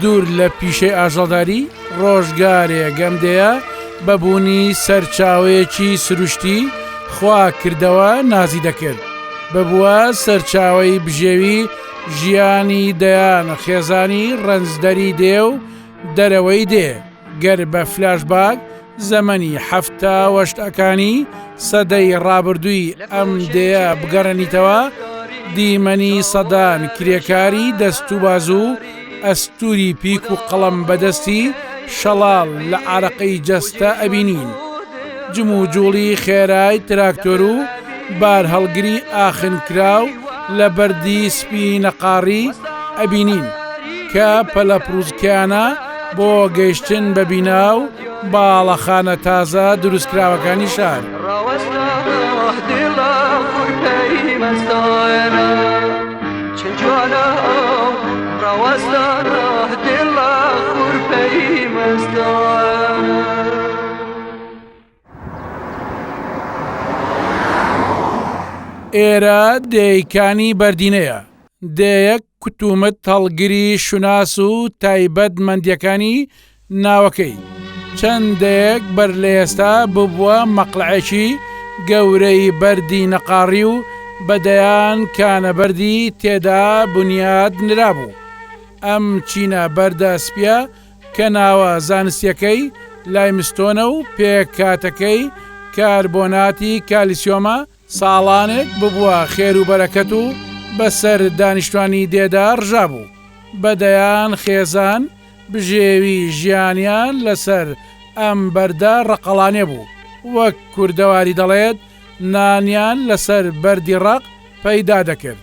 دوور لە پیشەی ئاژەڵداری، ڕۆژگارێ گەمدەیە بە بوونی سەرچاوەیەکی سروشتی خوا کردەوە نازی دەکرد، ببووە سەرچاوەی بژێوی ژیانی دەیان خێزانی ڕەنجدەری دێ و دەرەوەی دێ. گەر بە فلاش باک زەمەنی حەفتا وەشتەکانی سەدەی ڕابردووی ئەم دەیە بگەڕێنیتەوە دیمەنی سەدان کرێکاری دەست و بازوو ئەستوری پیک و قەڵم بەدەستی شەڵال لە عراقی جەستە ئەبینین جم و جوڵی خێرای تراکتۆر و بار هەڵگری ئاخنکراو لە بەردی سپی نەقاڕی ئەبینین کە پەلە پرۆزکیانە بۆ گەیشتن بە بینا و باڵەخانە تازە دروستکراوەکانی شار. ئێرە دێیەکانی بەردینەیە، دێیەک کتومت هەڵگری شوناس و تایبەت مەندیەکانی ناوەکەی چەند دەیەک بەر لە ئێستا ببووە مەقلەعێکی گەورەی بەردی نەقاڕی و بە دەیان کانە بەردی تێدا بنیات نرابوو. ئەم چینە بەردە سپیە کە ناوە زانستیەکەی لایمستۆنە و پێکهاتەکەی کاربۆناتی کالیسیۆمە، ساڵانێک ببوە خێر و بەرەکەت و بە سەر دانیشتوانی دێدا ڕژابوو، بە دەیان خێزان بژێوی ژیانیان لە سەر ئەم بەردە ڕەقەڵانێ بوو، وەک کوردەواری دەڵێت نانیان لە سەر بەردی ڕەق پەیدا دەکرد.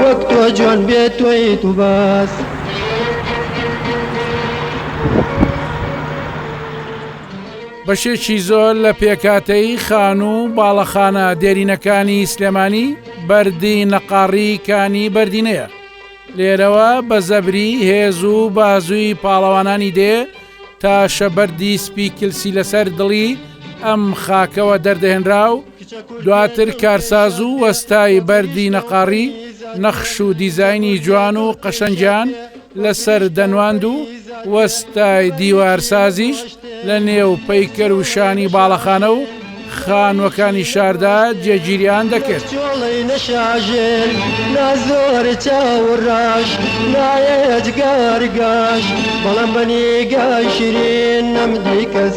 وەک تۆ جوان بێ تۆیت و بەس. بەشێکی زۆر لە پێکهاتەی خانوو و باڵەخانە دێرینەکانی سلێمانی بەردی نەقاڕی کانی بەردینەیە لێرەوە بە زەبری هێز و بازووی پاڵەوانانی دێ تا شەبەردی سپی کلسی لەسەر دڵی ئەم خاکەوە دەردەهێنرا و دواتر کارساز و وەستای بەردی نەقاڕی نەخش و دیزاینی جوان و قەشەنگیان لەسەر دەنواند و وەستای دیوارسازیش لە نێو پەیکەر و شانی باڵەخانە و خانوەکانی شاردا جێگیریان دەکرد چۆڵی نەشاژێر نازۆر چاوڕاش نایەت گارگاش بەڵام بەنیگاشرین نەمدی کەس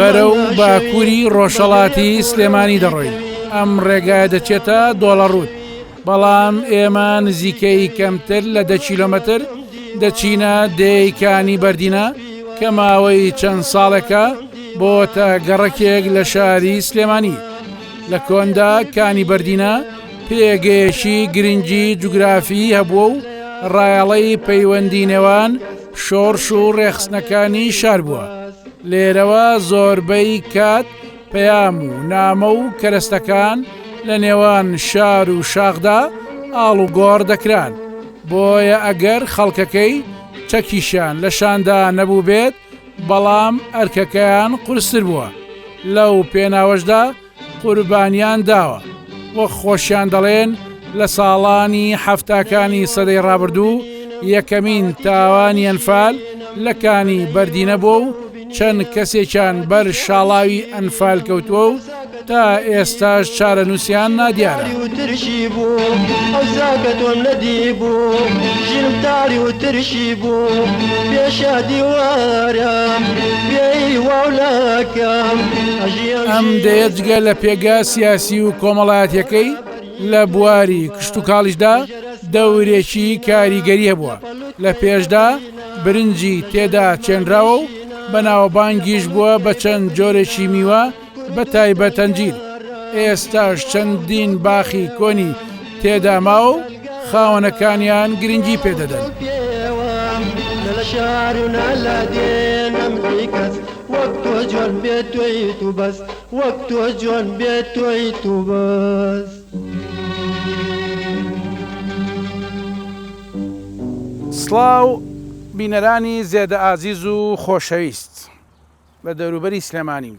بەرەو باکووری ڕۆژهەڵاتی سلێمانی دەڕۆین ئەم ڕێگا دەچێتە دۆڵە ڕووت بەڵام ئێمە نزیکەی کەمتر لە دە کیلومتر دەچینە دێکانی بەردینە کە ماوەی چەند ساڵێکە بۆ تە گەڕەکێک لە شاری سلێمانی لە کۆندا کانی بەردینە پێگەیەکی گرنگی جوگرافی هەبووە و ڕایەڵەی پەیوەندی نێوان شۆڕش و ڕێخستنەکانی شار بووە لێرەوە زۆربەی کات پەیام و نامە و کەرەستەکان لە نێوان شار و شاخدا ئاڵ و گۆڕ دەکران بۆیە ئەگەر خەڵکەکەی چەکیشان لە شاندا نەبوو بێت بەڵام ئەرکەکەیان قورستر بووە لەو پێناوەشدا قوربانیان داوە و خۆشیان دەڵێن لە ساڵانی حەفتاکانی سەدەی ڕابردوو یەکەمین تاوانی ئەنفال لە کانی بەردینە بووە و چەند کەسێکیان بەر شاڵاوی ئەنفال کەوتووە و تا ئێستاش چارە نووسیان نادیارە ترشی بوو ئەوزاکە تۆم نەدی بوو ژیرم تاری و ترشی بوو پێشە دیوارە پێی واولاکەم ئەم دەیە جگە لە پێگە سیاسی و کۆمەڵایەتەکەی لە بواری کشتوکاڵیشدا دەورێکی کاریگەری هەبووە لە پێشدا برنجی تێدا چێنراوە و بەناوەبانگیش بووە بە چەند جۆرێکی میوە بە تایبەتەنجیر ئێستاش چەندین باخی کۆنی تێدا ماو و خاوەنەکانیان گرنگی پێدەدەن. وەک تۆ جۆن بێ تۆی تو بەس وەک تۆ جۆن بێ تۆی تو بەس. سڵاو بینەرانی زێدە ئازیز و خۆشەویست لە دەوروبەری سلێمانیم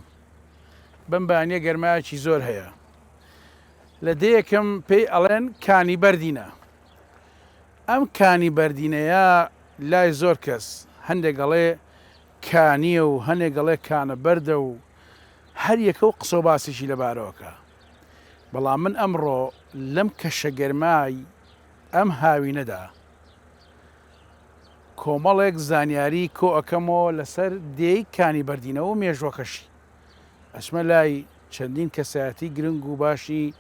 بەم بانیە گەرمایەکی زۆر هەیە لە دێیەکم پێی ئەڵێن کانی بەردینە. ئەم کانی بەردینەیە لای زۆر کەس هەندێک ئەڵێ کانییە و هەنێک ئەڵێ کانە بەردە و هەر یەکە و قسە و باسێکی لەبارەوە کا. بەڵام من ئەمڕۆ لەم کەشە گەرمای ئەم هاوینەدا کۆمەڵێک زانیاری کۆ ئەکەمەوە لەسەر دێی کانی بەردینە و مێژووەکەشی. ئەچمە لای چەندین کەسایەتی گرنگ و باشی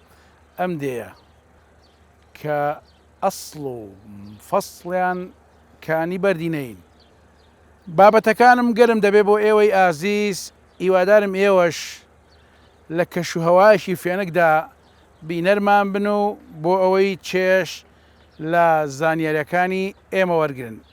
ئەم دێیە کە ئەسڵ و فەسڵیان کانی بەردی نەین. بابەتەکانم گەرم دەبێ بۆ ئێوەی ئازیز، هیوادارم ئێوەش لە کەش و هەوایەکی فێنکدا بینەرمان بن و بۆ ئەوەی چێژ لە زانیارییەکانی ئێمە وەرگرن.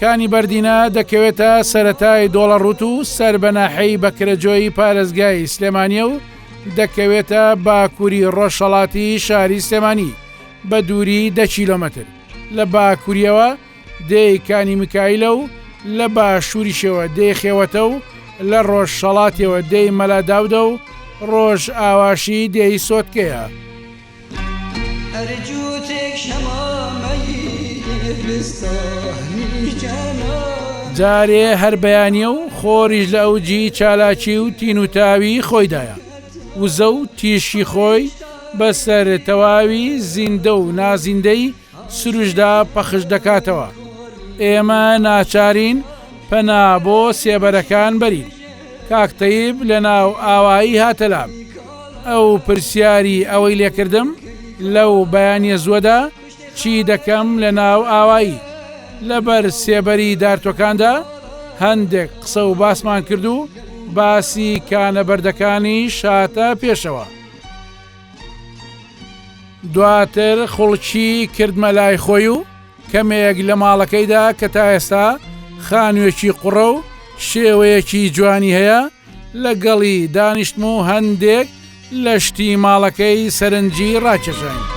کانی بەردینە دەکەوێتە سەتای دۆڵەڕوت و سەر بە ناحەی بەکرەجۆیی پارێزگای سلێمانیە و دەکەوێتە باکووری ڕۆژهڵاتی شاری سلێمانی بە دووری دە کیلۆمەتر لە باکووریەوە دێی کانی میکایلە و لە باشووریشەوە دێی خێوەتە و لە ڕۆژهەڵاتیەوە دێی مەلا داودە و ڕۆژئاواشی دێی سۆتکەیە. جارێ هەر بەیانیە و خۆریش لە ئەوجی چالاکی و تین و تاوی خۆیدایە وزە و تیشکی خۆی بەسەر تەواوی زیندە و نازیندەی سروشدا پەخش دەکاتەوە، ئێمە ناچارین پەنا بۆ سێبەرەکان بەرین. کاک تەیب لە ناو ئاوایی هاتە لام. ئەو پرسیاری ئەوەی لێکردم لەو بەیانیە زوەدا چی دەکەم لە ناو ئاوایی؟ لە بەر سێبەری دارتۆکاندا هەندێک قسە و باسمان کرد و باسی کانە بەردەکانیش هاتە پێشەوە. دواتر خوڵکی کردمە لای خۆی و کەمێک لە ماڵەکەیدا کە تا ئێستا خانوێکی قوڕە و شێوەیەکی جوانی هەیە لەگەڵی دانیشتم و هەندێک لە شتی ماڵەکەی سەرنجی ڕاکێشانی.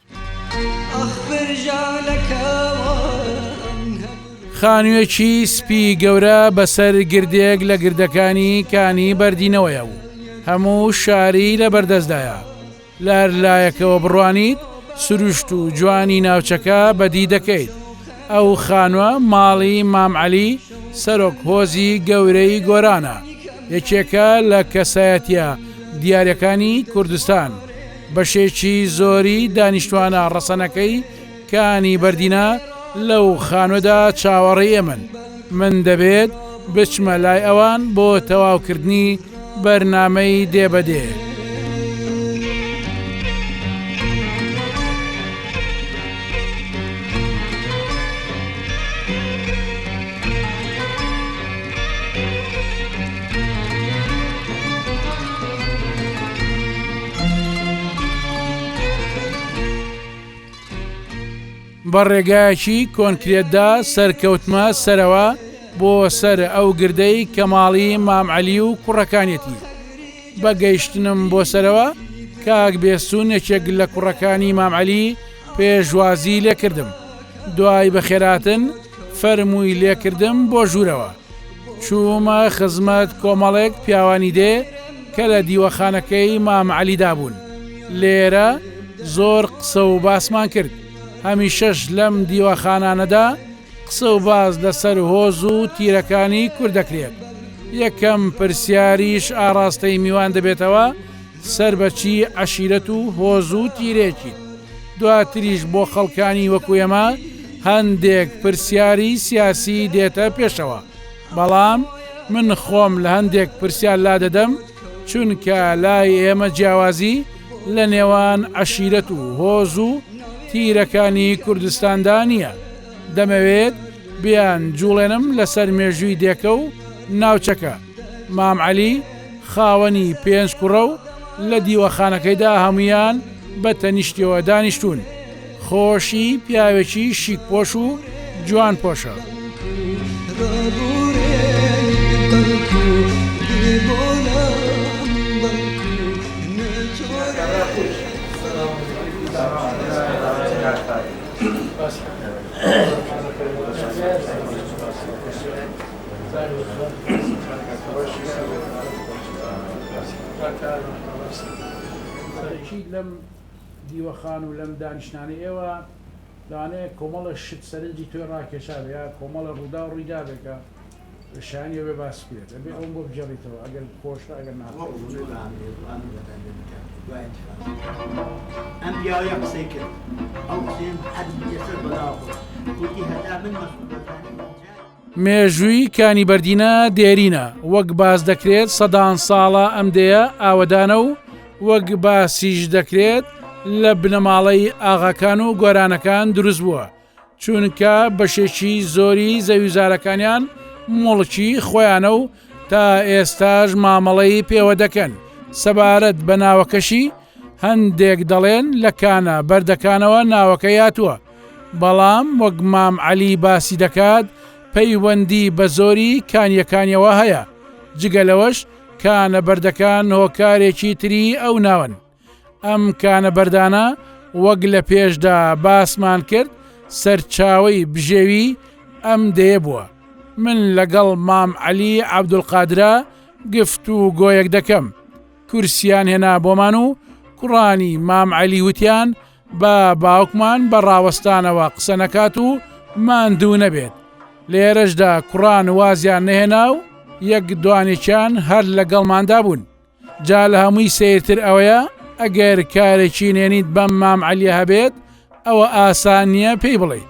خانوویەکی سپی گەورە بەسەر گردێک لە گردەکانی کانی بەردینەوەیە و هەموو شاری لە بەردەستدایە لار لایەکەوە بڕوانیت سروشت و جوانی ناوچەکە بەدی دەکەیت ئەو خانووە ماڵی مامعەلی سەرۆک هۆزی گەورەی گۆرانە یەکێکە لە کەسایەتە دیارەکانی کوردستان بەشێکی زۆری دانیشتوانە ڕەسەنەکەی کانی بەردینە لەو خانوەدا چاوەڕێی ئێمەن، من دەبێت بچمە لای ئەوان بۆ تەواوکردنی بەرنامەی دێ بە دێ. بە ڕێگایەکی کۆنکرێتدا سەرکەوتمە سەرەوە بۆ سەر ئەو گردەی کەماڵی مامعەلی و کوڕەکانێتی بە گەیشتنم بۆ سەرەوە کاک بێسون یەکێک لە کوڕەکانی مامعەلی پێشوازی لێکردم دوای بەخێراتن فەرمووی لێکردم بۆ ژوورەوە چوومە خزمەت کۆمەڵێک پیاوانی دێ کە لە دیوەخانەکەی مام عەلیدا بوون لێرە زۆر قسە و باسمان کرد هەمیشەش لەم دیوەخانانەدا قسە و باز لەسەر هۆز و تیرەکانی کوردەکرێت یەکەم پرسیاریش ئاراستەی میوان دەبێتەوە سەر بە چی عەشیرەت و هۆز و تیرێکیت؟ دواتریش بۆ خەڵکانی وەکو ئێمە هەندێک پرسیاری سیاسی دێتە پێشەوە، بەڵام من خۆم لە هەندێک پرسیار لادەدەم، چونکە لای ئێمە جیاوازی لە نێوان عەشیرەت و هۆز و تیرەکانی کوردستاندا نییە، دەمەوێت بیانجوڵێنم لەسەر مێژووی دێکە و ناوچەکە. مام عەلی خاوەنی پێنج کوڕە و لە دیوەخانەکەیدا هەموویان بە تەنیشتیەوە دانیشتوون. خۆشی پیاوێکی شیکپۆش و جوانپۆشە. سەرەکی لەم دیوەخان و لەم دانیشتنانەی ئێوە لەوانەیە کۆمەڵە شت سەرنجی تۆی ڕاکێشابێ یا کۆمەڵە ڕووداو ڕوویدابێ کە شایانی ئەوەیە باس بکرێت دەبێ ئەوەم بۆ بگێڕیتەوە ئەگەر خۆشە ئەگەر ناخۆش مێژووی کانی بەردینە دێرینە، وەک باس دەکرێت سەدان ساڵە ئەم دێیە ئاوەدانە و وەک باسیش دەکرێت لە بنەماڵەی ئاغاکان و گۆرانەکان دروست بووە، چونکە بەشێکی زۆری زەویوزارەکانیان موڵکی خۆیانە و تا ئێستاش مامەڵەی پێوە دەکەن، سەبارەت بە ناوەکەشی هەندێک دەڵێن لە کانە بەردەکانەوە ناوەکەی هاتووە. بەڵام وەک مام عەلی باسی دەکات پەیوەندی بە زۆری کانیەکانیەوە هەیە، جگە لەوەش کانە بەردەکان هۆکارێکی تری ئەو ناوەن، ئەم کانە بەردانە وەک لە پێشدا باسمان کرد سەرچاوەی بژێوی ئەم دێیە بووە، من لەگەڵ مام عەلی عەبدولقادرا گفتوگۆیەک دەکەم کورسیان هێنا بۆمان و کوڕانی مام عەلی وتیان با باوکمان بە ڕاوەستانەوە قسە نەکات و ماندوو نەبێت لێرەشدا کوڕان وازیان نەهێنا و یەک دوانێکیان هەر لەگەڵماندا بوون جا لە هەمووی سیرتر ئەوەیە ئەگەر کارێکی نێنیت بەم مام عەلیە هەبێت ئەوە ئاسان نییە پێی بڵێ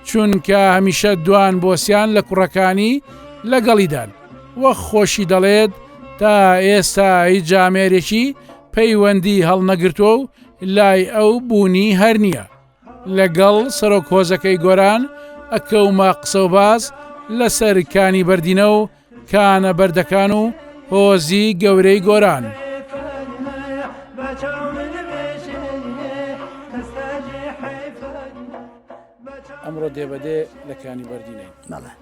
چونکە هەمیشە دوان بۆسیان لە کوڕەکانی لەگەڵیدان وەک خۆشی دەڵێت تا ئێستا هیچ جامێرێکی پەیوەندی هەڵنەگرتووە و لای ئەو بوونی هەر نییە. لەگەڵ سەرۆک هۆزەکەی گۆران ئەکەومە قسەوباس لەسەر کانی بەردینە و کانە بەردەکان و هۆزی گەورەی گۆران. ئەمڕۆ دێبەدێ لە کانی بەردینەی مەڵە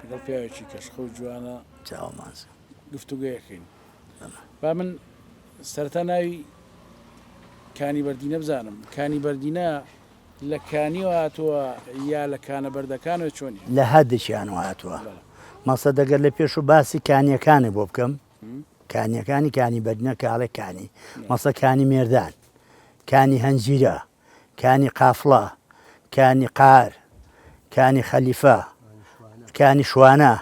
لەگەڵ پیاوێکی کەشخە و جوانە چاوەمانز گفتوگەیەکەین. با من سەرەتا ناوی کانی بەردینە بزانم کانی بەردینە لە کانیەوە هاتووە یا لە کانە بەردەکانەوە چۆنی لە هەردەکیان و هاتووە مەسە دەگەر لە پێش و باسی کانیەکانە بۆ بکەم کانیەکانی کانی بەردنە کاڵێکانی مەسەکانی مێردان کانی هەنجیرە کانی قافڵە، کانی قار، کانی خەلیفە، کانی شوانە،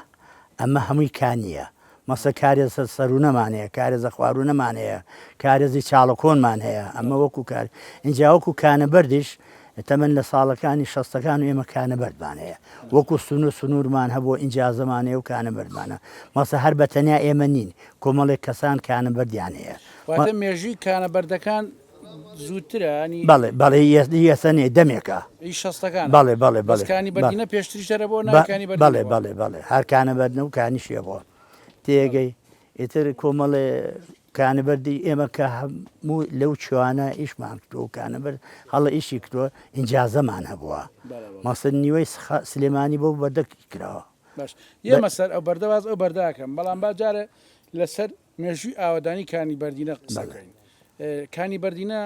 ئەمە هەمووی کانییە. مەسە کارێزە سەروونەمان هەیە، کارێزە خواروونەمان هەیە، کارێزی چاڵەکۆنمان هەیە، ئەمە وەکوو کار. ئینجا وەکوو کانەبەردیش تەمەن لە ساڵەکانی شەستەکان و ئێمە کانەبەردمان هەیە. وەکوو سنوور سنوورمان هەبووە، ئینجازەمان هەیە و کانەبەردمانە. مەسە هەر بە تەنیا ئێمە نین، کۆمەڵێک کەسان کانەبەردیان هەیە. واتە مێژووی کانەبەردەکان زووترە ینی بەڵێ بەڵێ یەسە نێ دەمێکە ئی شەستەکان بەڵێ بەڵێ بەڵێ بەسکانی بەڵێ بەدینە پێشتریش هەرە بۆ ناوەکانی بەڵێ بەدینە بەڵێ بۆ بەڵێ بەڵێ هەر کانە بەردنە و کانیشیە بۆ تێگەی ئیتر کۆمەڵێ کانە بەردی ئێمە کە هەموو لەو چوانە ئیشمان کردو و کانە بەر هەڵە ئیشی کردووە ئینجازەمان هەبووە بەڵێ بەڵێ مەسن نیوەی سخا سلێمانی بۆ بەردەکی کراوە باش یەمە سەر ئەو بەردە باس ئەو بەردە ئەکەم بەڵام با جارێ لەسەر مێژووی ئاوەدانی کانی بەردینە قسە بکەین کانی بەردینە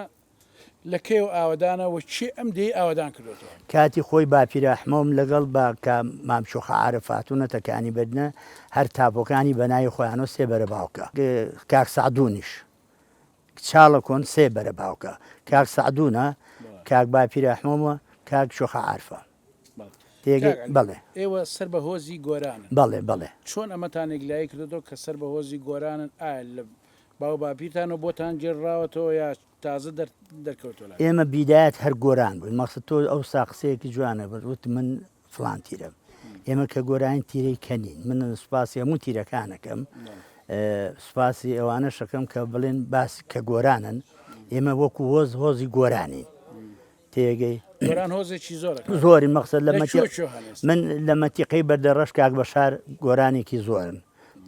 لە کەیەوە ئاوەدانە و کێ ئەم دێی ئاوەدان کردێتەوە کاتی خۆی باپیراحمەوم لەگەڵ بە کە مامچۆخە عارف فاتونەتە کانی بەردنە هەر تاپۆکانی بەناوی خۆیانۆ سێ بەرە باوکە کاک سعدونیش چاڵە کۆن سێ بەرە باوکە کاک سعدونە کاک باپیراحمەوە کاک شۆخە عارفە کاک عەلی ئێوە سەر بە هۆزی گۆرانن چۆن ئەمەتان یەکلایی کردۆتەوە کە سەر بە هۆزی گۆرانن ئایا لە باو باپیرتانەوە بۆتان گێڕراوەتەوە یا تازە دەرکەوتوە لاتان؟ ئێمە بیدایەت هەر گۆران بووین مەقسەد تۆ ئەوسا قسەیەکی جوانە بەت وت من فڵان تیرەم ئێمە کە گۆرانین تیرەی کەنین من سوپاسی هەموو تیرەکانەکەم سوپاسی ئەوانە شەکەم کە بڵێن باس کە گۆرانن ئێمە وەکو هۆز هۆزی گۆرانین تێگەی زۆری مەخسەر لە من لە مەتیقی بەردە ڕەش کاک بە شار گۆرانێکی زۆرن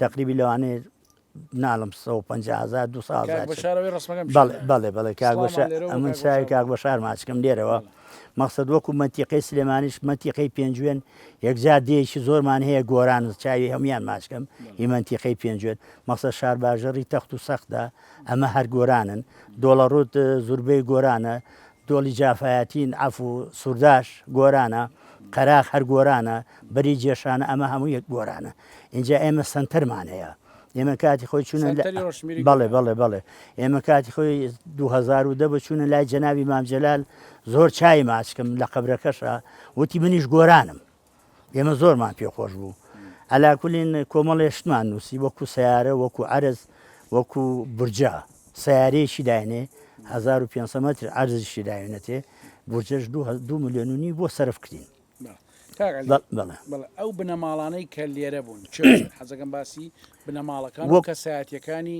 تەقریبی لەوانەیە ناڵم 150هزار دو بەڵێ بەڵێ کاک ئەمن چاوی کاک بە شار ماچکم لێرەوە مەخصد وەکو مەتیقی سلێمانیش مەتیقی پێنجوێن یەکجار دێکی زۆرمان هەیە گۆران چاوی هەموان ماچکەم هیمەنتیقی پێنجوێن مەخصە شار باژەڕی تەخت و سەختدا ئەمە هەر گۆرانن دۆڵەڕووت زوربەی گۆرانە دۆڵی جافایەتین عەفو سورداش گۆرانە قەراخ هەر گۆرانە بەری جێشانە ئەمە هەموو یەک گۆرانە ئینجا ئێمە سەنتەرمان هەیە ئێمە کاتی خۆی چوونە بەڵێ بەڵێ بەڵێ ئێمە کاتی خۆی 2010 بە چوونە لای جەناوی مامجلال زۆر چای ماچکم لە قبرەکەشە وتی منیش گۆرانم ئێمە زۆرمان پێ خۆش بوو. عەلا کولین کۆمەڵێ شتمان نووسی وەکوو سەیارە، وەکوو عەرز، وەکوو بورجە. سەیارەیەکی داینێ هەزار و پێنج سەد مەتر عەرزیشی داوێنێتێ، بورجەش دوو هە دوو ملیۆن و نیو بۆ سەرف کرین. کاک عەلی، بەڵ بەڵێ. بەڵێ، ئەو بنەماڵانەی کە لێرە بوون چ بوون؟ حەز دەکەم باسی بنەماڵەکان و وەک کەسایەتییەکانی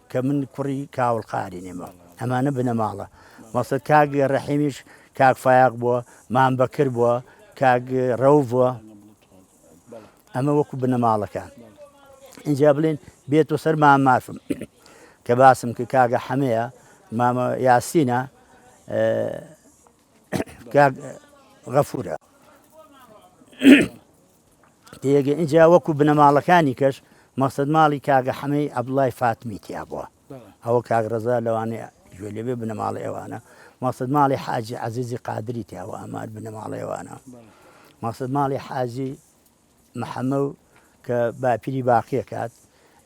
کە من کوڕی کاوڵ قارینیمە ئەمانە بنەماڵە مەسەد کاک ڕەحیمیش کاک فایاق بووە مام بەکر بووە کاک ڕەو بووە ئەمە وەکو بنەماڵەکان اینجا بڵێن بێت و سەر مام مافم کە باسم کە کاگە حەمەیە مامە یاسینە غەفورە ئینجا وەکو بنەماڵەکانی کەش مەقسەد ماڵی کاگە حەمەی عەبدوڵای فاتمی تیا بووە ئەوە کاک ڕەزا لەوانێ گوێ لێبێ بنەماڵە ئێوانە مەقسەد ماڵی حاجی عەزیزی قادری تیاوە ئەمار بنەماڵە ئێوانە مەقسەد ماڵی حاجی محەمە و کە باپیری باقیە کات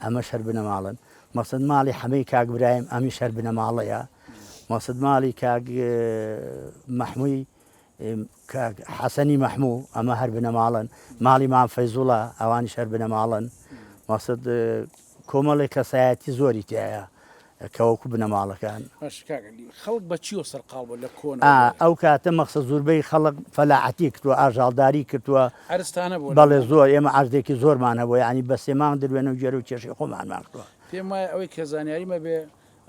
ئەمە شەر بنەماڵن مەقسەد ماڵی حەمەی کاک برایم ئەمی شەر بنەماڵەیە مەقسەد ماڵی کاک محموی کاک حەسەنی مەحموو ئەمە هەر بنەماڵەن ماڵی مام فەیزوڵە ئەوانیش هەر بنەماڵن مەسد کۆمەڵی کەسایەتی زۆری تایە کەوەکو بنەماڵەکان خەڵک بەچیەوە سەرقاڵ بۆ لە کۆن ئەو کاتە مەخسە زوربەی خەڵک فەلاعەتی کردووە ئاژاڵداری کردووە ئەرستانە بۆ بەڵێ زۆر ئێمە ئاردێکی زۆرمان هەبوو ینی بەسێمان دروێنە و گێرە و کێشی خۆمانمان کردووە پێم وایە ئەوەی کە زانیاریمە بێ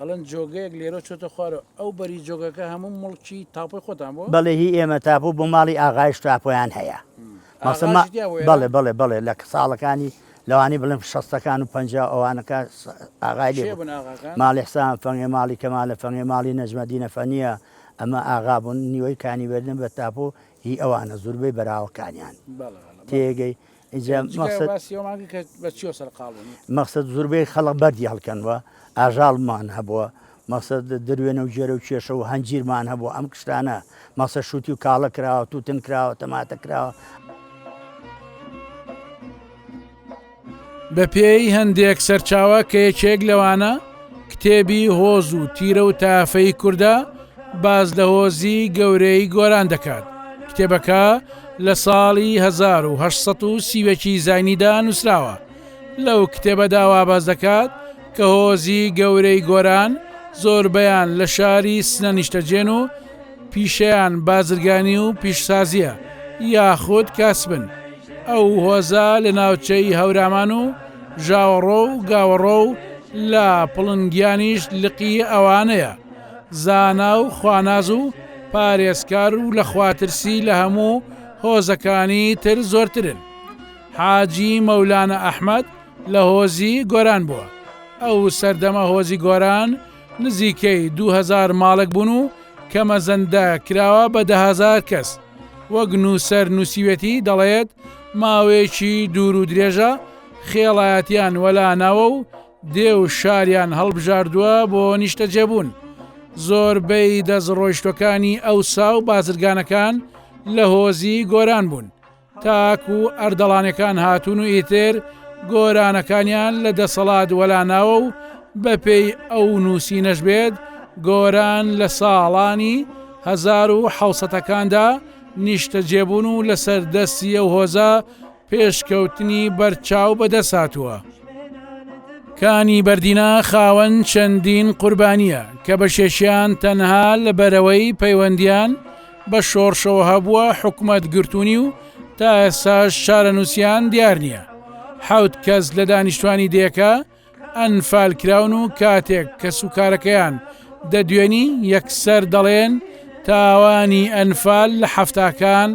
ئەڵێن جۆگەیەک لێرەو چۆتە خوارەوە. ئەو بەری جۆگەکە هەموو موڵکی تاپۆی خۆتان بووە؟ بەڵێ هی ئێمە تاپۆ بوو ماڵی ئاغایش تاپۆیان هەیە. مەسە ما ئاغاش تیا بوو بەڵێ ئێرە؟ بەڵێ بەڵێ لە ساڵەکانی لەوانەیە بڵێم شەستەکان و پەنجا و ئەوانەکە س ئاغای لێ کێ بوو. بوون ئاغاکان؟ ماڵی حسام فەنگێ ماڵی کەمالە فەنگێ ماڵی نەجمەدینە فەنیە ئەمە ئاغا بوون نیوەی کانی بەردن بە تاپۆ هی ئەوانە زوربەی بەراوەکانیان. بەڵێ بەڵێ بەڵێ. تێگەی؟ مەخسەد زوربەی خەڵق بەردی هەڵکەنوە ئاژاڵمان هەبووە مەخسەد دروێنە و جێرە و کێشە و هەنجیرمان هەبوو ئەم کشتانە مەسە شووتی و کاڵە کراوە توتن کراوە تەماتە کراوە. بە پێی هەندێک سەرچاوە کە یەکێک لەوانە کتێبی هۆز و تیرە و تافەی کوردە باس لە هۆزی گەورەی گۆران دەکات. کتێبەکە لە ساڵی 1930ەکی زینیدا نووسراوە. لەو کتێبەدا وا باس دەکات کە هۆزی گەورەی گۆران زۆربەیان لە شاری سنە نیشتەجێن و پیشەیان بازرگانی و پیشسازیە یاخود کاسبن. ئەو هۆزە لە ناوچەی هەورامان و ژاوەڕۆ و گاوەڕۆ و لە پڵنگیانیش لقی ئەوانەیە. زانا و خواناز و پارێزکار و لە خواترسی لە هەموو هۆزەکانی تر زۆرترن. حاجی مەولانە ئەحمەد لە هۆزی گۆران بووە. ئەو سەردەمە هۆزی گۆران، نزیکەی دوو هەزار ماڵک بوون و کە مەزەندە کراوە بە دەهەزار کەس. وەک نووسەر نووسیوێتی دەڵێت ماوەیەکی دوور و درێژە خێڵایەتیان وەلاناوە و دێ و شاریان هەڵبژاردووە بۆ نیشتەجێبوون. زۆربەی دەست ڕۆیشتوەکانی ئەوسا و بازرگانەکان لە هۆزی گۆران بوون. تاکو ئەردەڵانەکان هاتوون و ئیتر گۆرانەکانیان لە دەسەڵات وەلاناوە و بەپێی ئەو نووسینەش بێت گۆران لە ساڵانی هەزار و حوسەتەکاندا نیشتەجێبوون و لەسەر دەستی ئەو هۆزە پێشکەوتنی بەرچاو بەدەساتووە. کانی بەردینا خاوەن چەندین قوربانییە کە بەشێشیان تەنها لە بەرەوەی پەیوەندیان بە شۆڕشەوە هەبووە حکومەت گرتوونی و تا ئێستاش چارەنووسیان دیار نییە حوت کەس لە دانیشتوانی دێکە ئەنفال کراون و کاتێک کەس و کارەکەیان دەدوێنی یەکسەر دەڵێن تاوانی ئەنفال لە حەفتاکان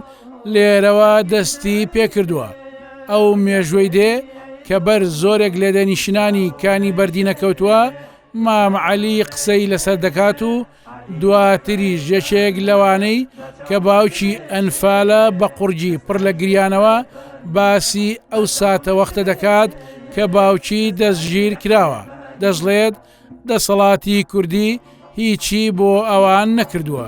لێرەوە دەستی پێکردووە ئەو مێژوەی دێ کە بەر زۆرێک لێدەنیشنانی کانی بەردینە کەوتووە مامعەلی قسەی لەسەر دەکات و دواتریش یەکێک لەوانەی کە باوکی ئەنفالە بە قوڕگی پڕ لە گریانەوە باسی ئەو ساتەوەختە دەکات کە باوکی دەستگیر کراوە دەشڵێت دەسەڵاتی کوردی هیچی بۆ ئەوان نەکردووە.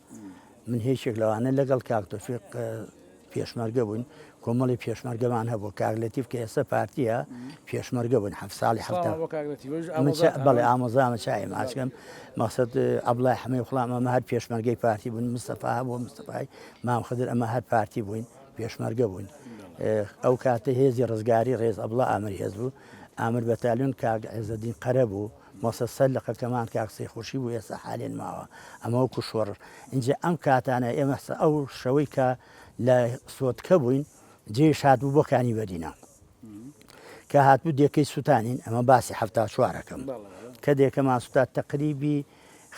من هیچێک لەوانە لەگەڵ کاک تۆفیق پێشمەرگە بووین کۆمەڵی پێشمەرگەمان هەبوو کاک لەتیف کە ئێستا پارتیە پێشمەرگە بوون هەف ساڵی هەفتە سڵاو بۆ کاک لەتیف وش ئەمە چا- ئامۆزاتان. بەڵێ ئامۆزامە چای ماچکەم مەقصد ئەبڵای حمە و خڵام ئەمە هەر پێشمەرگەی پارتی بوون مستەفا هەبوو مستەفای مام خدر ئەمە هەر پارتی بووین پێشمەرگە بووین اه، ئەو کاتە هێزی ڕزگاری ڕێز ئەبڵا ئامر هێز بوو ئامر بەتالیون کاک عێزەدین قەرە بوو مۆسە سەر لە قەکەمان کاک سەی خورشی بوو ئێستا حالێن ماوە ئەمە وەکو شۆڕ ئینجا ئەم کاتانە ئێمە ئەو شەوەی کە لە سۆتکە بووین جێش هات بوو بۆ کانی بەدینە کە هاتبوو دێکەی سووتانین ئەمە باسی هەفتا چوارەکەم کە دێکە ماسوتا تەقریبی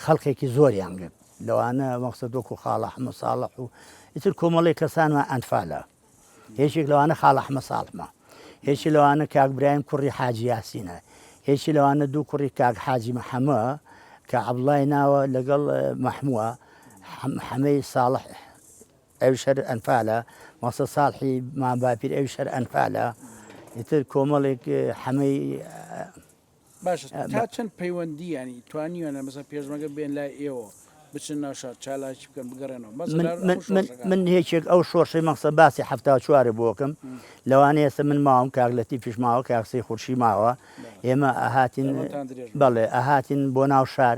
خەڵکێکی زۆریان گرت لەوانە مەقصد وەکو خاڵە حمە ساڵح و ئیتر کۆمەڵی کەسانمان ئەنفالە یەکێک لەوانە خاڵە حمە ساڵحمە یەکی لەوانە کاک برایم کوڕی حاجی یاسینە یەکی لەوانە دوو کوڕی کاک حاجی محەمە کە عبڵای ناوە لەگەڵ مەحمووە حەمەی ساڵح ئەو شەر ئەنفالە مەسە ساڵحی ماباپیر ئەو شەر ئەنفالە ئیتر کۆمەڵێک حەمەی باشە تا چەند پەیوەندی یانی توانیوانە مەسە پێشمەگە بێن لای ئێوە بچن ناو شار چالاکی بکەن بگەڕێنەوە من هێچێک ئەو شۆڕشەی مەقسە باسی هەفتا چوارە بۆکەم لەوانە ئێستا من ماوم کاگلەتی پیشماوە کاکسی خورشی ماوە ئێمە ئاهاتین بەڵێ ئاهاتین بۆ ناو شار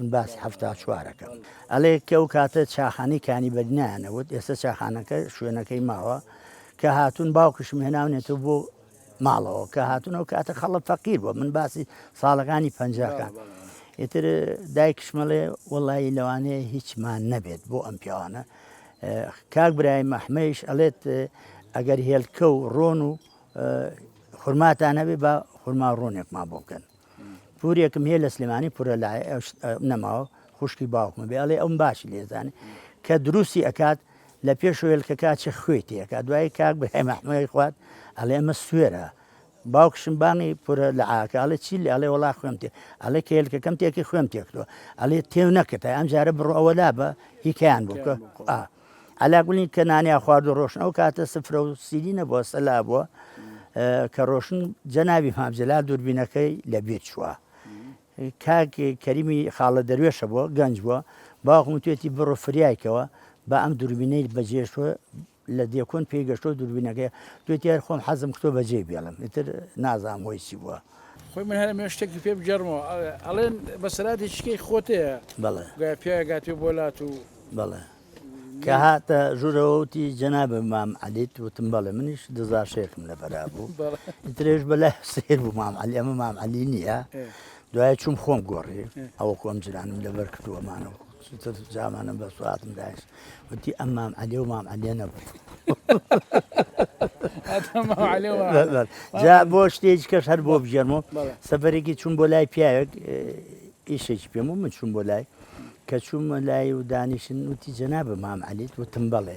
من باسی حەفتا چوار ئەکەم. ئەڵێ کە ئەو کاتە چاخانەی کانی بەگ نایان ئەوت، ئێستە چاخانەکە شوێنەکەی ماوە، کە هاتوون باوکیشم هێناونێتەوە بۆ ماڵەوە، کە هاتوون ئەو کاتە خەڵک فەقیر بووە، من باسی ساڵەکانی پەنجاکان. ئیتر دایکیشم ئەڵێ وەڵایی لەوانەیە هیچمان نەبێت بۆ ئەم پیاوانە. کاک برایم ئەحمەیش ئەڵێت ئەگەر هێلکە و ڕۆن و خورماتان هەبێ با خورما و ڕۆنێکمان بۆ بکەن. پورێکم هەیە لە سلێمانی پورە لای نەماوە خوشکی باوکمە بێ ئەڵێ ئەوم باشی لێزانێ کە دروستی ئەکات لە پێش وێلکە کاچە خوێ تێکە دوای کاک بەێ مەحمەی خوات ئەڵێ ئەمە سوێرە باوکشم بانی پورە لە ئاکە ئەڵێ چی لە ئەڵێ وڵا خوێم تێ ئەڵێ کێلکەکەم تێکی خوێم تێکتوە ئەڵێ تێو نەکەتای ئەم جارە بڕۆ ئەوە لا بە هیکیان بووکە. عەلا گوڵی کە نانیا خوارد و ڕۆشن ئەو کاتە سفرە و سیری نەبووە سەلا بووە کە ڕۆشن جەناوی مامجلال دووربینەکەی لە بیر چووە کاک کەریمی خاڵە دەروێشە بووە گەنج بووە باوکم توێتی بڕۆ فریایکەوە بە ئەم دووربینەی بەجێشوە لە دێکۆن پێی گەشتۆ دووربینەکەی توێتی هەر خۆم حەزم کتۆ بەجێ بێڵم ئیتر نازام هۆی چی بووە خۆی من هەرە مێ شتێکی پێ بگەڕمەوە ئەڵێن بەسەراتی چکەی خۆتەیە بەڵێ گوای پیاگاتێ بۆ لات و بەڵێ کە هاتە ژوورەوەوتی جەنا بە مام علیت وتم بەڵێ منیش دزا شێخم لە بەرا بوو درێژ بەلا سیر بوو مام علی ئەمە مام علی نییە دوای چوم خۆم گۆڕی ئەوە کۆم جرانم لەبەر کردووەمانەوە چیتر جامانم بە سواتم داش وتی ئەم مام عەلێ و مام عەلێ نەبوو جا بۆ شتێکی کەش هەر بۆ بژێرمەوە سەفەرێکی چوون بۆ لای پیاوێک ئیشێکی پێم و من چوون بۆ لای کە چوومە لای و دانیشن وتی جەنا بە مام عەلیت وتم بڵێ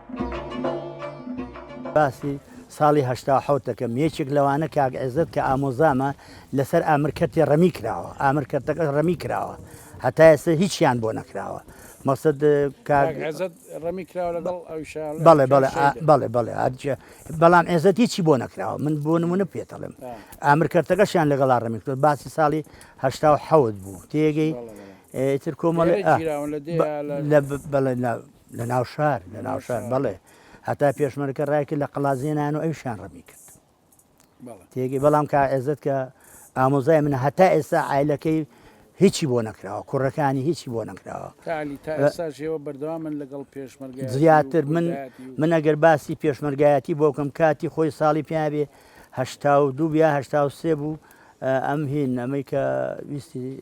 باسی ساڵی هەشتا و حەوت دەکەم یەکێک لەوانە کاک عێزەت کە ئامۆزامە لەسەر ئامر کەرتی ڕەمی کراوە ئامر کەرتەکەش ڕەمی کراوە هەتا ئێستا هیچیان بۆ نەکراوە مەقصد کاک عێزەت ڕەمی کراوە لەگەڵ ئەوشان بەڵێ بەڵێ بەڵێ بەڵێ هەرچە بەڵام عێزەت هیچی بۆ نەکراوە من بۆ نمونە پێتەڵم ئامر کەرتەکەشیان لەگەڵا ڕەمی کرد باسی ساڵی هەشتا و حەوت بوو تێگەی تر کۆمەڵی لە بەڵێ لە ناو شار لە ناو شار بەڵێ هەتا پێشمەرکە ڕایکرد لە قەلازێنان و ئەوشان ڕەمی کرد تێگەی بەڵام کا ئێزت کە ئامۆزای منە هەتا ئێستا ئایلەکەی هیچی بۆ نەکراوە کوڕەکانی هیچی بۆ نەکراوە تاژێوە بەردەوا من لەگەڵ پێشمەرگ زیاتر من من ئەگەر باسی پێشمەرگایەتی بۆکەم کاتی خۆی ساڵی پیاێ هەشتا و دوو بیا هەشتا و سێ بوو ئەم هین ئەمەی کە ویستی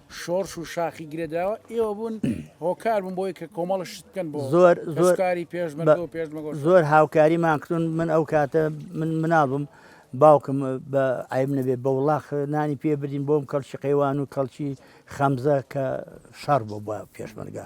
شۆرش و شاخی گرێدراوە ئێوە بوون هۆکار بوون بۆی کە کۆمەڵ شت بکەن بۆ زۆر زۆرکاری پێشمەرگە و پێشمەگۆ زۆر هاوکاری ماکردون من ئەو کاتە من مناڵم باوکم بە عیب نەبێت بە وڵاخ نانی پێ بدین بۆم کەڵکی قەیوان و کەڵکی خەمزە کە شەڕ بۆ بە پێشمەرگە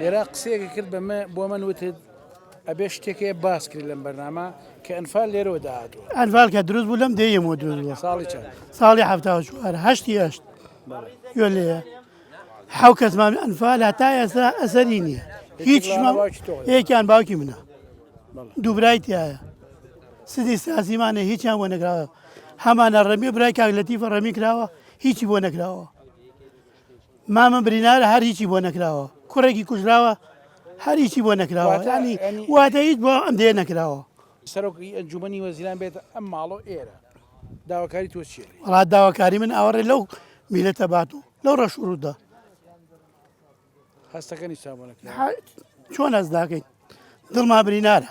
لێرە قسەیەکە کرد بە من بۆ من وتت ئەبێ شتێکێ باس کرد لەم بەرنامە کە ئەنفال لێرەوە داهاتوە ئەنفال کە دروست بوو لەم دێمەوە دروست بووە ساڵی چەند؟ ساڵی ه چوار هەشتی هەشت گوێ لێە حو کەسمان ئەنفال هەتا ئێستا ئەسەری نییە هیچمان یەکیان باوکی منە دووبرای تایە سدی سازیمانە هیچیان بۆ نەکراوە هەمانە ڕەمی برای کاک لەتیفە ڕەمی کراوە هیچی بۆ نەکراوە مامە برینارە هەر هیچی بۆ نەکراوە کوڕێکی کوژراوە هەر هیچی بۆ نەکراوە واتە- ینی ینی- واتە هیچ بۆ ئەم دێ نەکراوە سەرۆکی ئەنجومەنی وەزیران بێت ئەم ماڵۆ ئێرە داواکاری تۆ چیە لێ؟ وڵات داواکاری من ئاوەڕێ لەو میلەتە بات و لەو ڕەش و ڕوودا هەستەکەنی چاوەنەکە ح- چۆن ئەس داکەین دڵما برینارە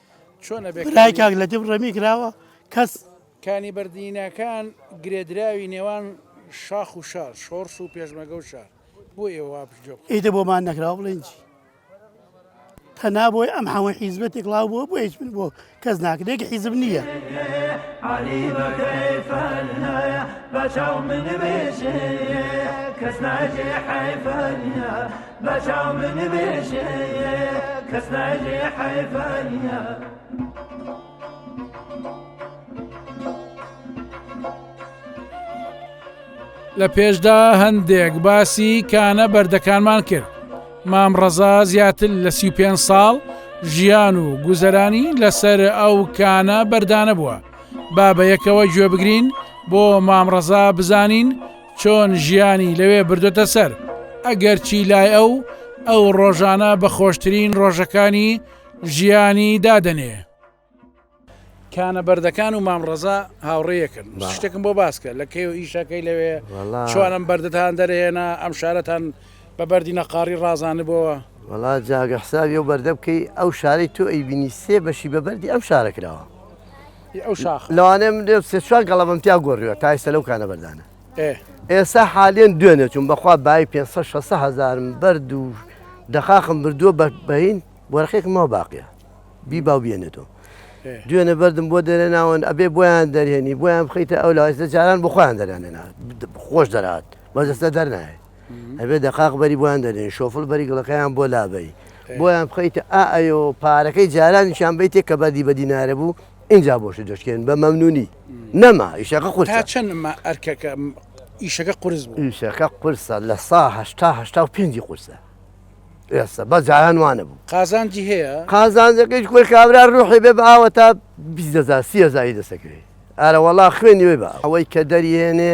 برای کاک لەتیف ڕەمی کراوە کەس. کانی بەردیناکان گرێدراوی نێوان شاخ و شار، شۆڕش و پێشمەرگە و شار بۆ ئێوە وا پشتگوێ بخەن؟ ئیتر بۆمان نەکراوە بڵێین چی؟ تەنها بۆی ئەم حەمە حیزبە تێکڵاو بووە بۆ هیچ من بۆ کەس ناکرێت یەک حیزب نییە. بەچاو من بێژێ کەس ناجێ حیفە نییە. بەچاو من بێژێ کەس ناژێ حەیفانە لە پێشدا هەندێک باسی کانە بەردەکانمان کرد مام ڕەزا زیاتر لە سی پێ ساڵ ژیان و گوزەرانی لەسەر ئەو کانە بەردانە بووە با بە یەکەوە گوێ بگرین بۆ مامڕەزا بزانین چۆن ژیانی لەوێ بردۆتە سەر ئەگەرچی لای ئەو ئەو ڕۆژانە بە خۆشترین ڕۆژەکانی ژیانی دادەنێ. کانە بەردەکان و مامڕەزا هاوڕێیەکن شتێکم بۆ باسکە لە کەی و ئیشەکەی لەوێ چۆنم بەردەتان دەرێنا ئەم شارەتان بە بەردی نەقاڕی ڕازانبەوە وڵا جاگە حسابی و بەردە بکەی ئەو شارەی تۆ ئەیبینی سێ بەشی بە بەردی ئەم شارە کراوە ی ئەو شاخە. لەوانەیە من لێم سێ چوار گەڵەبەم تیا گۆڕیوە تا ئێستا لەو کانە بەردانە. ئێ. ئێستا حالیەن دوێنێ چووم بەخوا بایی پێنج سەد شەش سەد هەزارم بەرد و دەقاقم بردووە بە بەین وەرەقێکم ماوە باقیە بیبا و بێنێتەوە. ئێ. دوێنێ بەردم بۆ دەرێناون ئەبێ بۆیان دەرێنی بۆیان بخەیتە ئەو لاوە ئێستا جاران بۆ خۆیان دەرانێنا خۆش دەرهات بەس ئێستا دەرنایێ. ئەبێ دەقاق بەری بۆیان دەنێی شۆفڵ بەری گڵەکەیان بۆ لابەی بۆیان بخەیتە ئا ئەیۆ پارەکەی جارانیشان بیتێ کە بەردی بە دینارە بوو ئینجا بۆشت دەشکێن بە مەمنونی نەما ئیشەکە قورس تا چەندمە ئەرکەکە ئیشەکە قورس بوو ئیشەکە قورسە لە سا هەشتا هەشتا و پێنجی قورسە ئێستا بە جاران وانە بوو قازانجی هەیە قازانجەکەیش کوی کابرا ڕوحی بێ بە ئاوە تا بیست هەزار سی هەزاری دەسەکرێ ئارە وەڵا خوێنی وێ بە ئەوەی کە دەریێنێ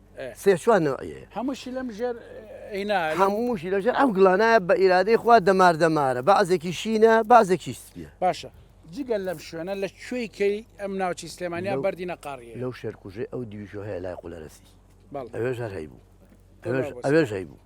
سێ چوار نەوعیەیە هەمووشی لەم ژێر ئینا هەمووشی لەژێر ئەم گڵانایە بە ئیرادەی خوا دەمار دەمارە بەعزێکی شینە بازێکی سپیە باشە جگە لەم شوێنە لە کوێی کەی ئەم ناوچی سلێمانیا بەردی نەقاڕیە لەو شێرکوژێ ئەو دیویشۆ هەیە لای قولەرەسی ئەوێژار هەی بوو ئەوێژ هەی بوو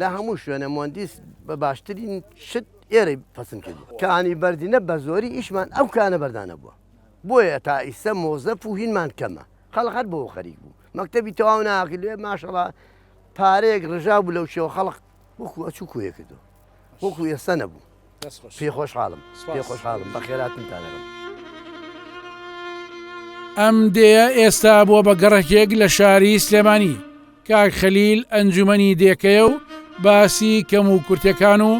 لە هەموو شوێنە مۆندیس بە باشترین شت ئێرەی پەسن کردی کانی بەردینە بە زۆری ئیشمان ئەو کانە بەردانە بووە بۆیە تا ئیسە مۆزەف و هینمان کەمە خەڵ هەر بۆ خەریک بوو مەکتتەبی تەواو ناکرێ ماشەڵا پارەیەک ڕژا بوو لەو شێوە خەڵق وەکو ئەچوو کوێ کردو وەکو ئێستا نەبوو پێ خۆشحاڵم پێ خۆشحاڵم بە خێراتم تانەکەم. ئەم دێە ئێستا بووە بە گەڕەکێک لە شاری سلێمانی کاک خەلیل ئەنجومەنی دێکەیە و باسی کەم و کورتەکان و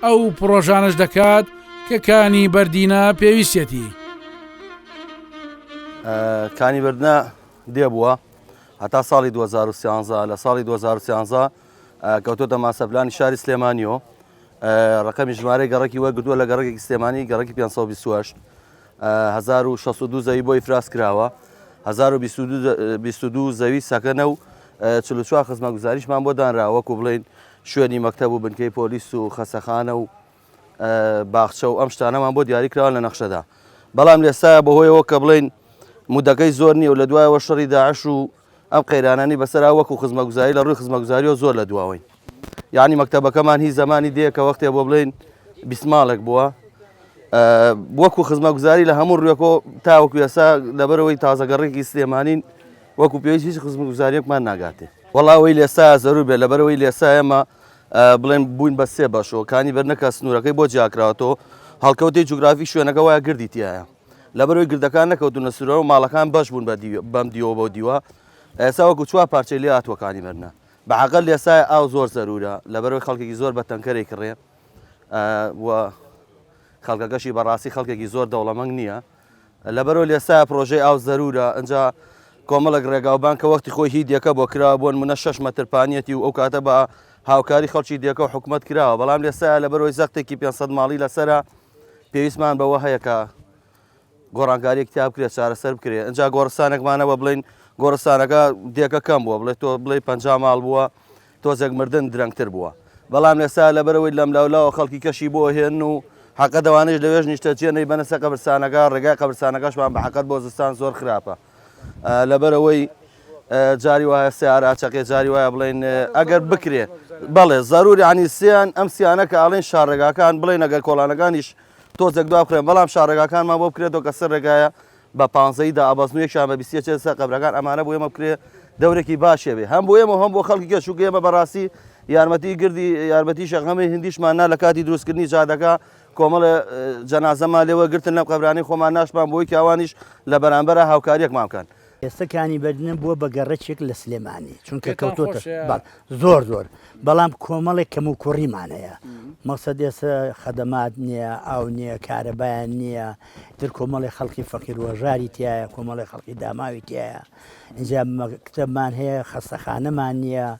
ئەو پرۆژانش دەکات کە کانی بەردینە پێویستێتی کانی بردە دێبووە هەتا ساڵی 2013 لە ساڵی 2013 کەوتۆتە ماسەرپلانی شاری سلێمانیۆ ڕقەمی ژمارەی گەڕکی وەرگتووە لە گەڕێکی سلێمانی گەڕکی 528 1662 زەوی بۆی فراس کراوە 1922 زەوی سەکەنە و چلوچوار خزمە گوزاریشمان بۆ دانرا وەکو بڵین شوێنی مەکتەب و بنکەی پۆلیس و خەسەخانە و باخچە و ئەم شتانەمان بۆ دیاری کراوە لە نەخشەدا بەڵام لێستا بەهۆیەوە کە بڵین مدەکەی زۆر نیە و لە دوایەوە شەڕی داعش و ئەم قەیرانانی بەسەرا وەکو خزمەگوزاری لە ڕووی خزمەگوزاریەوە زۆر لە دواوەین یعنی مەکتتەبەکەمان هی زمانی دێ کە وەختێ بۆ بڵین بیسماڵێک بووە وەکو خزمەگوزاری لە هەموو ڕوێکۆ تاوەکو یاسا لەبەرەوەی تازەگەڕێکی سلێمانین وەکو پێویست هیچ خزمگوزاریەکمان ناگاتێ وڵاوەی لێسا زەرو بێ لەبەرەوەی لێسا ئێمە بڵێن بووین بە سێ بەشەوە کانی بەرنەکە سنوورەکەی بۆ جیاکراوەەوە هەڵکەوتی جوگرافی شوێنەکە وایە گردی تایە لەبەرەوەی گردەکان نەکەوتونە سورەوە ماڵەکان بەش بوون بە بەم دیوە بۆ دیوە ئێستا وەکو چوار پارچەی لێ هاتووەکانی مەرنە بەعقل لێسای ئاو زۆر زەرورە لەبەرەوەی خەڵکێکی زۆر بە تەنکەرێک کڕێ و خەڵکەکەشی بەڕاستی خەڵکێکی زۆر دەوڵەمەنگ نییە لەبەرەوە لێسا پرۆژەی ئاو زەرورە ئەجا کۆمەڵک ڕێگاوبان کە وەختی خۆی هی دیەکە بۆ کرا بۆن منە شش مەترپانیەتی و ئەو کاتە بە هاوکاری خەڵکی دیەکە و حکوومەت کراوە بەڵام لێسا لەبەرەوەی زەختێکی 500 ماڵی لەسرە پێویستمان بەوە هەیە کە گۆڕانکاریەک تا بکرێت چارەسەر بکرێت ئەجا گۆڕستانێکمانەوە بڵین گۆڕستانەکە دێکە کەم بووە بڵێت تۆ بڵێ پ ماڵ بووە تۆزێک مردن درەنگتر بووە بەڵام لەسا لەبەرەوەی لەم لاولاوە خەڵکی کەشی بۆ هێن و حقە دەوانش لەوێژ نیشتەجیێنەی بەنەسە قەبرسانەکە ڕێگای قەبرسانەکەشمان بە حقت بۆ زستان زۆر خراپە لەبەرئەوەی جاری وایە سیارە ئاچەقێ جاری وایە بڵین ئەگەر بکرێ بەڵێ زەروری عنی سیان ئەم سیانە کە ئاڵێن شارڕێگاکان بڵێن ئەگەر کۆڵانەکانیش تۆزێک دوا بخێن بەڵام شارڕێگاکانمان بۆ بکرێتەوە کە سەر ڕێگایە بە پانزەی دا ئابازنوێکیان بە بیسیە چێ سەر قەبرەکان ئەمانە بۆ ئێمە بکرێ دەورێکی باشێ بێ هەم بۆ ئێمە هەم بۆ خەڵکی کە شوکە ئێمە بەڕاستی یارمەتی گردی یارمەتی شەغەمی هندیشمان نا لە کاتی دروستکردنی جادەکە کۆمەڵێ جەنازەمان لێ وەرگرتن لەم قەبرانەی خۆمان ناشتمان بۆی کە ئەوانیش لە بەرامبەرا هاوکارییەکمان بکەن. ئێستا کانی بەردینە بووە بە گەڕەکێک لە سلێمانی، چونکە کەوتۆتە بەر زۆر زۆر، بەڵام کۆمەڵێک کەموکوڕیمان هەیە، مەقسەد ئێستا خەدەمات نییە، ئاو نییە، کارەبایان نییە، ئیتر کۆمەڵێ خەڵکی فەقیر و هەژاری تیایە، کۆمەڵێ خەڵکی داماوی تیایە، ئینجا مەکتەبمان هەیە، خەستەخانەمان نییە.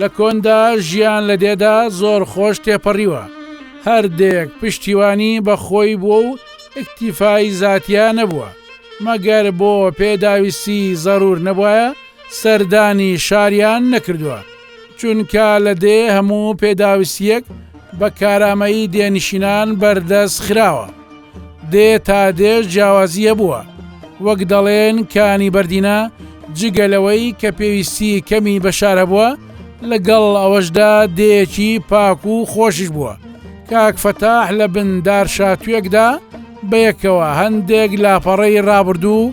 لە کۆندا ژیان لە دێدا زۆر خۆش تێپەڕیوە، هەر دێیەک پشتیوانی بە خۆی بووە و ئیکتیفای زاتیا نەبووە، مەگەر بۆ پێداویستی زەروور نەبوایە سەردانی شاریان نەکردووە، چونکا لە دێ هەموو پێداویستییەک بە کارامەیی دێنشینان بەردەست خراوە. دێ تا دێ جیاوازی هەبووە، وەک دەڵێن کانی بەردینە، جگە لەوەی کە پێویستی کەمی بە شار هەبووە، لەگەڵ ئەوەشدا دێیەکی پاک و خۆشیش بووە، کاک فەتاح لە بن دارشاتوێکدا بەیەکەوە هەندێک لاپەڕەی ڕابردوو،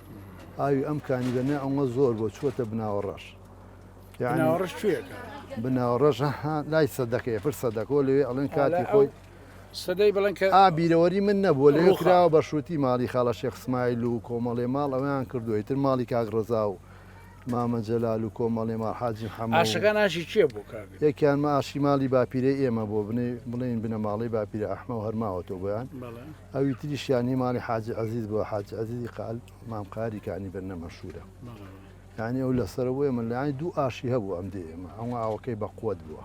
ئاوی ئەم کانی دەنێ ئەوە زۆر بۆ چوەتە بناوە ڕەش بناوەڕش کوێەکە بناوە ڕەش لای سەدەکەی پر سەدەکۆ لەوێ ئەڵێن کاتی خۆی سەدەی بڵێن کە ئابیرەوەری من نەبووە لە خراوە بە شووتی ماڵی خاڵە شێخسمایل و کۆمەڵێ ماڵ ئەویان کردوی تر ماڵی کاک ڕزا و مامە جەلال و کۆمەڵێ ماڵ حاجی حەماشەکان ئاشی چێ بوو یەکیان مە ئاشی ماڵی باپیرە ئێمە بۆ بنێ بڵێن بنەماڵی باپیرە ئەحمە و هەرماوەتەوە بۆیان ئەوی تریشیان هی ماڵی حاجی عەزیز بووە حاجی عەزیزی قال مام قاری کانی بەرنە مەشهورە یعنی ئەو لەسەر بۆ ئێمە لانی دوو ئاشی هەبوو ئەم دێ ئێمە ئەو ئاوەکەی بە قوت بووە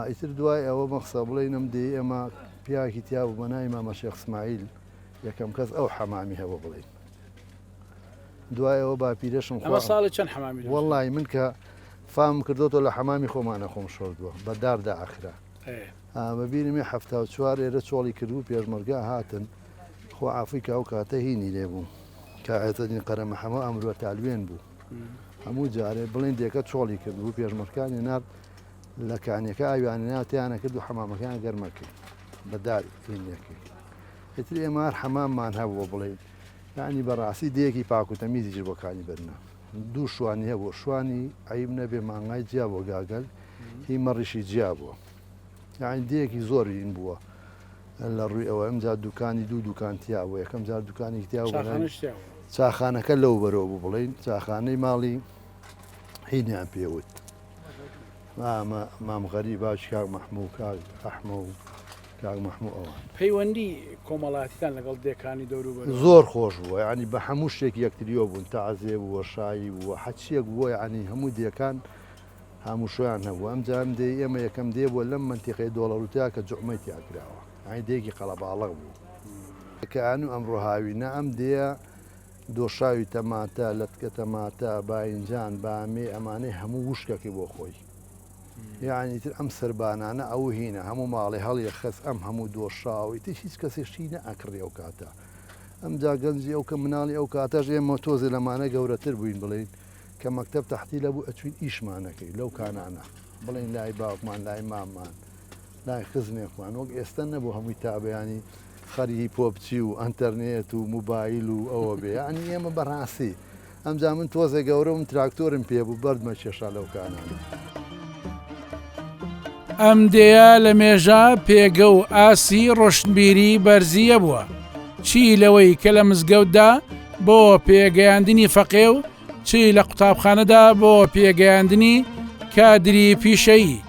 ئیتر دوای ئەوە مەخسە بڵێ نەم دێ ئێمە پیاکی تیا بوو بە نای مامە شێخ سمایل یەکەم کەس ئەو حەمامی هەبوو بڵین دوایەوە باپیرەشم خۆ ساڵی چەند حەمامی وڵی من کە فام کردوەوە لە حەمامی خۆمانە خۆم شۆردووە بەداردا ئاخرا ئەمە بیرم یە حەفتا و چوار ئێرە چۆڵی کردبوو پێشمەرگە هاتن خۆ عافوی کە ئەو کاتە هینی لێ بوو کە عێزەدین قەرەمە حەمە ئەمروە تالوێن بوو هەموو جارێ بڵێن دێکە چۆڵی کردبوو پێشمەرکانی نار لە کانیەکە ئاویانی ناتیانە کرد و حەمامەکان گەرمەکەی بەدار هینیەکەی ئیتر ئێمە هەر حەماممان هەبووە بڵێن یعنی بەڕاستی دەیەکی پاکوتەمیزیش بۆکانی بەرنا دوو شوانی هەبوو شوانی عیب نەبێ مانگای جیا بۆ گاگەل هی مەڕیشی جیا بووە یاعین دێکی زۆر ین بووە لە ڕووی ئەوە ئەمجا دوکانی دوو دوکان تیا بوو یەکەم جار دوکانێک تیا چاخانەکە لەو بەرەوە بوو بڵین چاخانەی ماڵی هینیان پێوت مام غەری باش کاک مەحموو کاک ئەحمە و کاک مەحموو ئەوان پەیوەندی کۆمەڵاتیان لەگەڵ دێکانی دەورو زۆر خۆش بووە ینی بە هەموو شتێک یەکتریۆ بوون تازێ بووە شایی بووە حەچیەک بووە ینی هەموو دێکان هاموشۆیان هەبوو ئەم جار دێی ئێمە یەکەم دێ بووە لەم مەنتیقەی دۆڵەروتیا کە جوعمەی تیا کراوە ئەی دێکی قەڵەباڵغ بوو کەئان و ئەمڕۆ هاوینە ئەم دێە دۆشاوی تەماتە لەتکە تەماتە باینجان بامێ ئەمانەی هەموو وشکەکەی بۆ خۆی یعنی تر ئەم سربانانە ئەو هینە هەموو ماڵی هەڵیە خەس ئەم هەموو دۆشاوی تر هیچ کەسیشتی نە ئەکڕی ئەو کاتە ئەمجا گەنجی ئەو کە مناڵی ئەو کاتەش ئێمە تۆزێ لەمانە گەورەتر بووین بڵین کە مەکتەب تەحتیلە بوو ئەچوین ئیشمان نەکەی لەو کانانە بڵین لای باوکمان لای مامان لای خزمێکمان وەک ئێستا نەبوو هەمووی تابیانی خەریی پۆپچی و ئەتەرنێت و موبایل و ئەوە بێ ئەنی ئێمە بەڕاستی ئەمجا من تۆزێک گەورە و تراکتۆرم پێ بوو بەردمە کێشا لەو کانانە. ئەم دێیە لە مێژە پێگە و ئاستی ڕۆشنبیری بەرزییە بووە، چی لەوەی کە لە مزگەوتدا بۆ پێگەیاندنی فەقێ و چی لە قوتابخانەدا بۆ پێگەیاندنی کادری پیشەیی،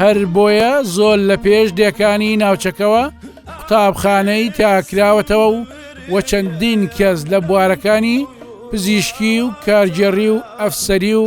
هەر بۆیە زۆر لە پێش دێکانی ناوچەکەوە قوتابخانەی تا کراوەتەوە و و چەندین کەس لە بوارەکانی پزیشکی و کارگێڕی و ئەفسەری و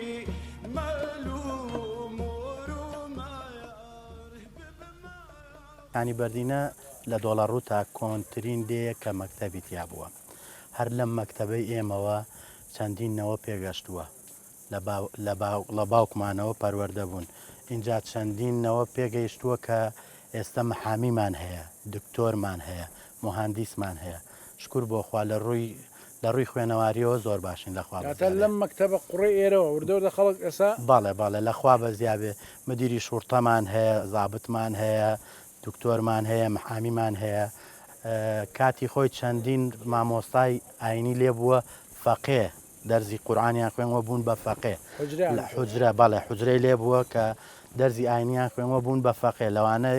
یانی بەردینە لە دۆڵەڕووتا کۆنترین دێیە کە مەکتەبی تیا بووە. هەر لەم مەکتەبەی ئێمەوە چەندین نەوە پێگەشتووە. لە باوکمانەوە پەروەردە بوون. ئینجا چەندین نەوە پێگەیشتووە کە ئێستە محامیمان هەیە، دکتۆرمان هەیە، موهاندیسمان هەیە. شکور بۆ خوا لە ڕووی لە ڕووی خوێنەواریەوە زۆر باشین لە خوا بەزیابێ. واتە لەم مەکتەبە قوڕی ئێرەوە وردە وردە خەڵک ئێستا. بەڵێ بەڵێ لە خوا بەزیابێ مدیری شوڕتەمان هەیە زابتمان هەیە دکتۆرمان هەیە محامیمان هەیە کاتی خۆی چەندین مامۆستای ئاینی لێ بووە فەقێ دەرزی قورآانیان خوێنوە بوون بە فەقێ لە حجرە بەڵێ حجرەی لێ بووە کە دەرزی ئاینیان خوێنوە بوون بە فەقێ لەوانە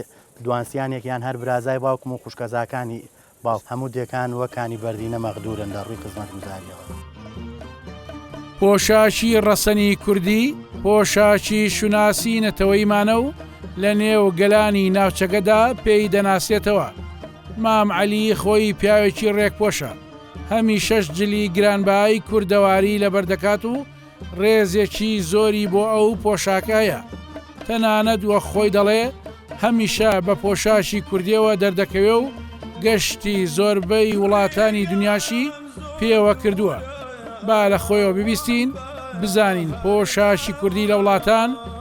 دوانسیانێکیان هەر برازای باوکم و خوشکەزاکانی باڵ، هەموو دێکان وەک کانی بەردینە مەغدوورن لە ڕووی خزمەتگوزارییەوە. پۆشاکی ڕەسەنی کوردی، پۆشاکی شوناسی نەتەوەیمانە و لە نێو گەلانی ناوچەکەدا پێی دەناسرێتەوە. مام عەلی خۆی پیاوێکی ڕێکپۆشە، هەمیشەش جلی گرانبەهای کوردەواری لەبەر دەکات و ڕێزێکی زۆری بۆ ئەو پۆشاکە هەیە تەنانەت وەک خۆی دەڵێ هەمیشە بە پۆشاکی کوردیەوە دەردەکەوێ و گەشتی زۆربەی وڵاتانی دنیاشی پێوە کردووە با لە خۆیەوە ببیستین بزانین پۆشاکی کوردی لە وڵاتان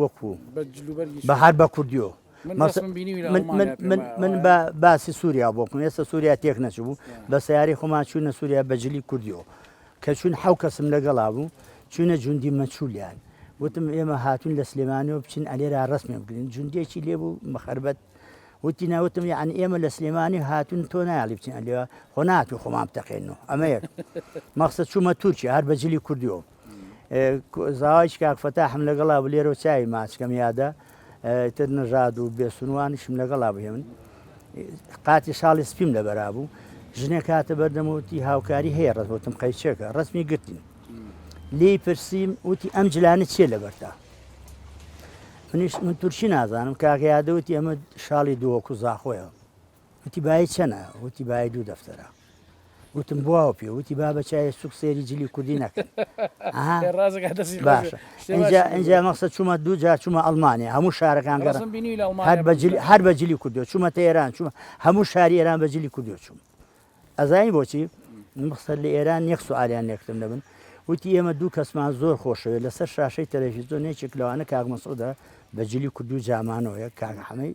وەکو بە هەر بە کوردیۆ من بە باسی سووریا بۆکم ئێستا سووریا تێک نەچبوو بە سیاری خۆمان چوونە سووریا بەجلی کوردیۆ کە چون حو کەسم لەگەڵا بوو چونە جوندی مەچولیان وتم ئێمە هاتون لە سلێمانەوە بچین ئەلێرا ڕسمێ بگرین جوندێکی لێبوو مەخربەت وتی ناوتم یعنی ئێمە لە سلێمانی هاتون تۆ نایڵی بچین ئەلێوە خۆ ناتو خۆمان بتەقێن و ئەمەیە مەخسە چوومە تورکیا هەر بەجلی کوردیۆ زاواج کاک فەتاحم لەگەڵا بوو لێرەو چاوی ماچکەم یادە تر نژاد و بێسونوانیشم لەگەڵا بوو هێمن قاتی شاڵی سپیم لە بەرابوو ژنێک هاتە بەردەمەوتی هاوکاری هەیە ڕزبتم قەیچێکە ڕسمی گرتین لی پرسیم وتی ئەم جلانە چیە لەبەرتا منیش من تورکی نازانم کاکە یادەوتی ئەمە شاڵی دووەکو زاخۆیە وتی بایی چەنە؟ وتی بایی دوو دەفتەرە. وتم بواوە پێ وتی با بە چای سوک سێری جلی کوردی نەکەن باشە ئەجا مەسە چوومە دوو جا چوومە ئەلمانیا هەموو شارەکان هەر بە جلی کوردو چوومە تێران چوومە هەموو شاری ئێران بە جلی کوردو چووم ئەزانی بۆچی مخسەر لە ئێران یەک سوالیان لێکتم دەبن وتی ئێمە دوو کەسمان زۆر خۆشەوێت لەسەر شاشەی تەلەفیزۆن نێچێک لەوانە کاک مەسۆدا بە جلی کوردو جامانەوەیە کاک حەمەی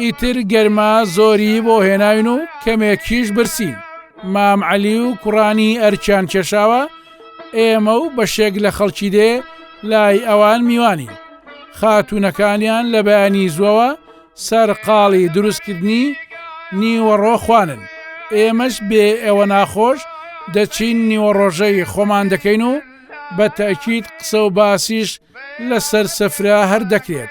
ئیتر گەرما زۆری بۆ هێناوین و کەمێکیش برسی مام عەلی و کوڕانی ئەرکیان کێشاوە ئێمە و بەشێک لە خەڵکی دێ لای ئەوان میوانی خاتونەکانیان لە بەیانی زوەوە سەرقاڵی دروستکردنی نیوەڕۆ خوانن ئێمەش بێ ئەوە ناخۆش دەچین نیوەڕۆژەی خۆمان دەکەین و بە تاکیید قسە و باسیش لەسەر سفرە هەر دەکرێت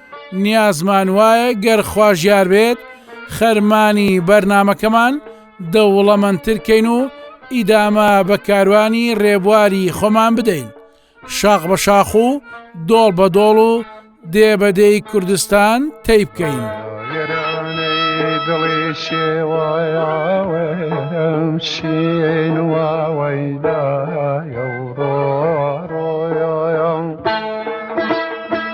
نیازمان وایە گەر خوازیار بێت خەرمانی بەرنامەکەمان دەوڵەمەندترکەین و ئیدامە بە کاروانی ڕێبواری خۆمان بدەین شاخ بە شاخ و دۆڵ بە دۆڵ و دێ بەدەی کوردستان تەی بکەین. دڵی شێوایاوەم شێن واوەیدایە و ڕۆ ڕۆیان.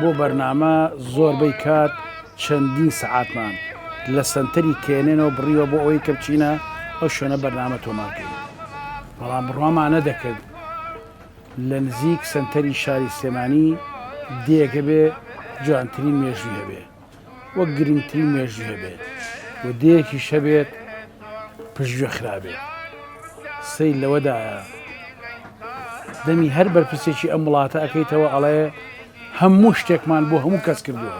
بۆ بەرنامە زۆربەی کات چەندین سەعاتمان لە سەنتەری کێنێنەوە بڕیوە بۆ ئەوەی کە بچینە ئەو شوێنە بەرنامە تۆمارکەین بەڵام بڕوامانە دەکرد لە نزیک سەنتەری شاری سلێمانی دێگە بێ جوانترین مێژوی هەبێ وەک گرنگترین مێژوو دەبێت و دەیەکی شەبێت پشتگوێ خرابێت سەی لەوەدایە دەمی هەر بەرپرسێکی ئەم وڵاتە ئەەکەیتەوە ئەڵێ هەموو شتێکمان بۆ هەموو کەس کردووە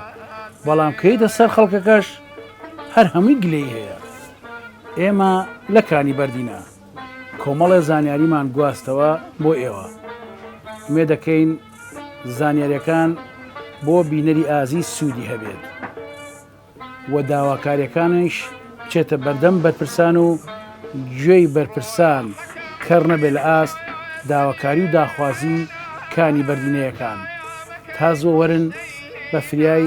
بەڵام کەیتە سەر خەڵکەکەش هەر هەمووی گلەی هەیە ئێمە لەکانی بەردینە کۆمەڵێ زانیاریمان گواستەوە بۆ ئێوە مێ دەکەین زانیاریەکان بۆ بینەری ئازیز سوودی هەبێت و داواکاریەکانیش بچێتە بەردەم بەرپرسان و گوێی بەرپرسان کەڕ نەبێت لە ئاست داواکاری و داخوازی کانی بەردینەیەکان تا زۆوەرن بە فریای